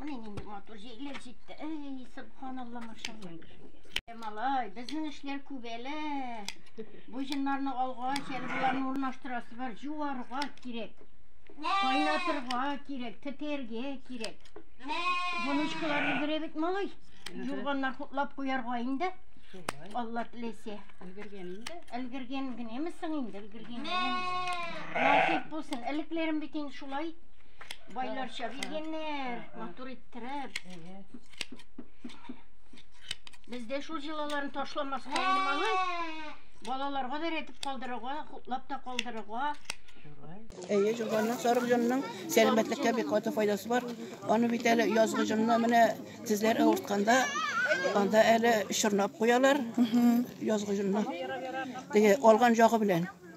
Менә нинди матур җәйләр җитте. Әй, субханалла, машалла. Ә малай, безнең эшләр күп әле. Бу җыннарны алгач, әле боларны урнаштырасы бар. Җуарга кирәк. Кайнатырга кирәк, тетергә кирәк. Бунычкаларны бирә бит малай. Юрганнар хутлап куярга инде. Алла теләсә. Өлгергән инде. Өлгергән генәме соң инде, өлгергән генәме? Насыйп булсын. Элекләрем бит инде шулай. Байларча биргәннәр, матур иттереп. Бездә шул җылаларын ташламас калмалы. Балаларга да әйтеп калдырырга, хутлап та калдырырга. Әйе, җылганның сарык җонның сәламәтлеккә бик каты файдасы бар. Аны бит әле язгы җонны менә тезләр авыртканда анда әле чорнап куялар. Язгы җонны. Теге алган ягы белән.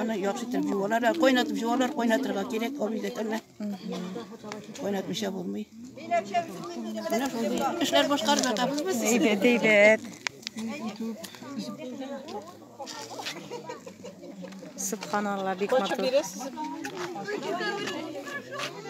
Аны яхшы итеп җуалар, ә кайнатып җуалар, кайнатырга кирәк, абый да кәлмә. Кайнатмыйча булмый. Менә шундый эшләр башкарып ятабыз без. Әйбәт, әйбәт. Субханалла, бик матур.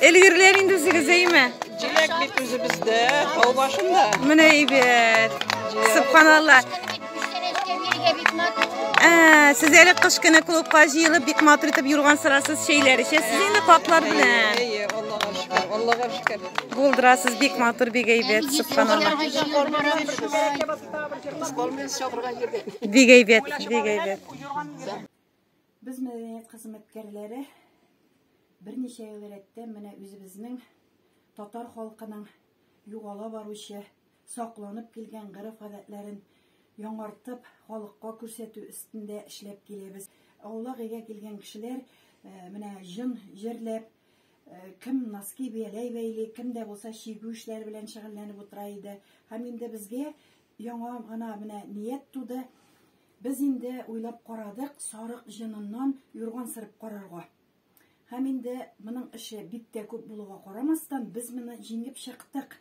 Элгерләр инде үзегез әйме? Җиләк бит үзебездә, тау башында. Менә әйбәт. Субханалла. Ә, сез әле кыш көне клубка җыелып бик матур итеп юрган сырасыз, чәйләр эчәсез инде картлар белән. Әйе, Аллага шөкер, Аллага шөкер. Булдырасыз бик матур, бик әйбәт, субханалла. Бик әйбәт, бик әйбәт. Без мәдәният хезмәткәрләре берничә ел рәттән менә үзебезнең татар халкының югала баручы, сакланып килгән гореф-гадәтләрен яңартып, халыкка күрсәтү өстендә эшләп киләбез. Аулак өйгә килгән кешеләр менә җын җырлап, кем носки бияләй бәйли, кем дә булса чигү эшләре белән шөгыльләнеп утыра иде. Һәм инде безгә яңа гына менә ният туды. Без инде уйлап карадык сарык җыныннан юрган сырып карарга. Һәм инде моның эше бик тә күп булуга карамастан, без моны җиңеп чыктык.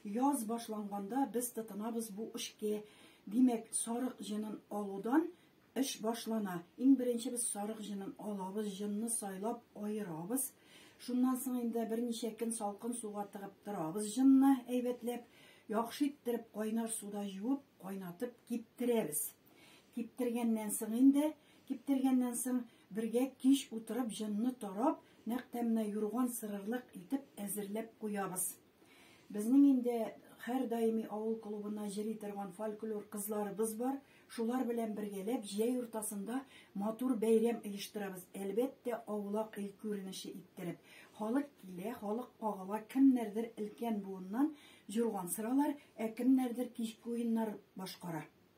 Яз башланганда без тотынабыз бу эшкә. Димәк, сарык җынын алудан эш башлана. Иң беренче без сарык җынын алабыз, җынны сайлап аерабыз. Шуннан соң инде берничә көн салкын суга тыгып торабыз җынны әйбәтләп, яхшы иттереп кайнар суда җуып, кайнатып киптерәбез. Киптергәннән соң инде, киптергәннән соң бергә кич утырып җынны тарап, нәкъ тәмнә юрган сырырлык итеп әзерләп куябыз. Безнең инде һәрдаими авыл клубына җыри торган фольклор кызларыбыз бар. Шулар белән бергәләп җәй уртасында матур бәйрәм оештырабыз. Әлбәттә, аулак ил күренеше иттереп. Халык килә, халык кагыла, кемнәрдер өлкән буыннан җурган сыралар, ә кемнәрдер кичке уеннар башкара.